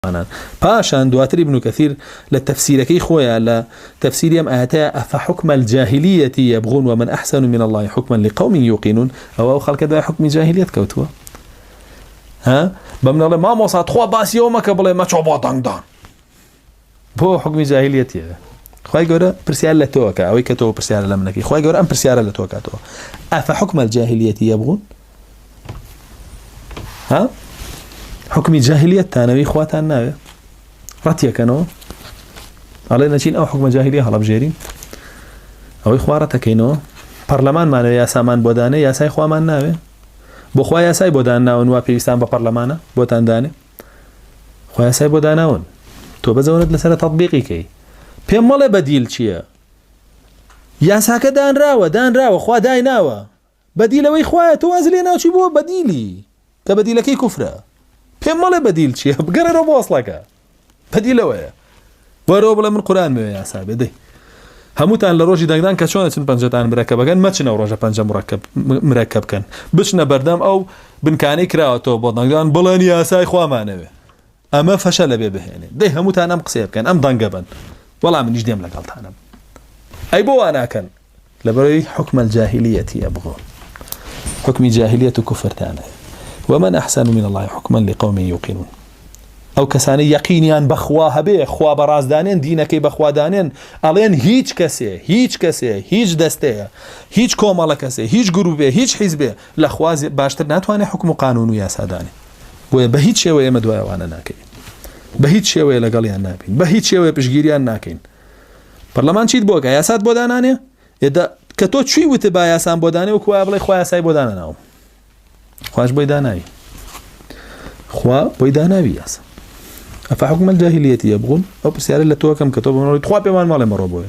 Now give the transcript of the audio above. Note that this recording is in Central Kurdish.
موسڵمانان پاشان دواتر ابن کثیر لە تفسیرەکەی خۆیا لە تفسیری ئەم ئایەتەیا افحکم الجاهلیە یبغون ومن احسن من الله حکما لقوم یوقنون ئەوە ئەو خەڵکە دوای حکمی جاهلیت کەوتووە ها بەم نەڵێ مامۆسا تخوا باسی ئەو مەکە بڵێ مەچۆ بۆ دەنگدان بۆ حکمی جاهلیەتە خی گەورە پرسیار لە تۆکە ئەوەی کە تۆ پرسیارە لە منەکەی خی گەور ئەم پرسیارە لە تۆکاتەوە ئەفە حکومە جاهلیەتی یە بوون ها حکمی جاهلیت تانەوەی خواتان ناوێ ڕەتیەکەنەوە ئەڵێ نەچین ئەو حکومە جاهلی هەڵبژێرین ئەوەی خوارەتەکەینەوە پەرلەمانمانەوە یاسامان بۆدانێ یاسای خوامان ناوێ بۆخوا یاسای بۆدان ناون وا پێویستان بە پەرلەمانە بۆتان دانێ خۆیاسای بۆ داناون تۆ بەزەونت لەسرە تەبیقی کەی پێم مەڵێ بەدیل چییە یاساکە دانراوە دانراوە خوا دایناوە بەدیلەوەی خوایە تۆ وازی لێ ناچی بۆ بەدیلی کە بەدیلەکەی کوفرە پێم مەڵێ بەدیل چیە بگەڕێرەوە بۆ ئەسڵەکە بەدیلەوەیە بەرەوە بڵێ من قوران مێ یاسا بێ دەی هەمووتان لە ڕۆژی دەنگدان کە چۆن چن پەنجەتان مرەکە بەگەن مەچنە و ڕۆژە پەنجە مڕەکەب مرەکە بکەن بچنە بەردەم ئەو بنکانەی کراوەتەوە بۆ دەنگدان بڵێن یاسای خوامانەوێ ئەمە فەشەلە بێ بهێنێ دەی هەمووتان ئەم قسەیە بکەن ئەم دەنگە بن وەڵام منیش دێم لەگەڵتانم ئەی بۆ واناکەن لەبەرەوەی حکومە جاهلیەتی ئەبغۆ حکمی جاهلیەت و کوفرتانە ومن أحسن من الله حكما لقوم يوقنون ئەو کەسانی یەقینیان بەخوا هەبێ خوا بەڕازدانێن دینەکەی بەخوادانێن ئەڵێن هیچ کەسێ هیچ کەسێ هیچ دەستەیە هیچ کۆمەڵە کەسێ هیچ گروبێ هیچ حیزبێ لە خوازێ باشتر ناتوانێت حکم و قانون و یاسادانێ بۆیە بە هیچ شێوە ئێمە دوای ئەوانە ناکەین بە هیچ شێوەیە لەگەڵیان نابین بە هیچ شێوەیە پشگیریان ناکەین پەرلەمان چیت بۆگە یاسات بۆ دانانێ ئێدا کە تۆ چی وتە با یاسان بۆ دانێ و کوە بڵێ خخوای یاسای بۆ دانەناوم خوش بۆی داناوی خوا بۆی داناوی یاسا ئەفحکومە جاهلیەتی یە بوون ئەو پرسیارە لە تۆکەم کە تۆ بمەوەی تخوا پێمان ماڵێ مەڕۆ بۆێ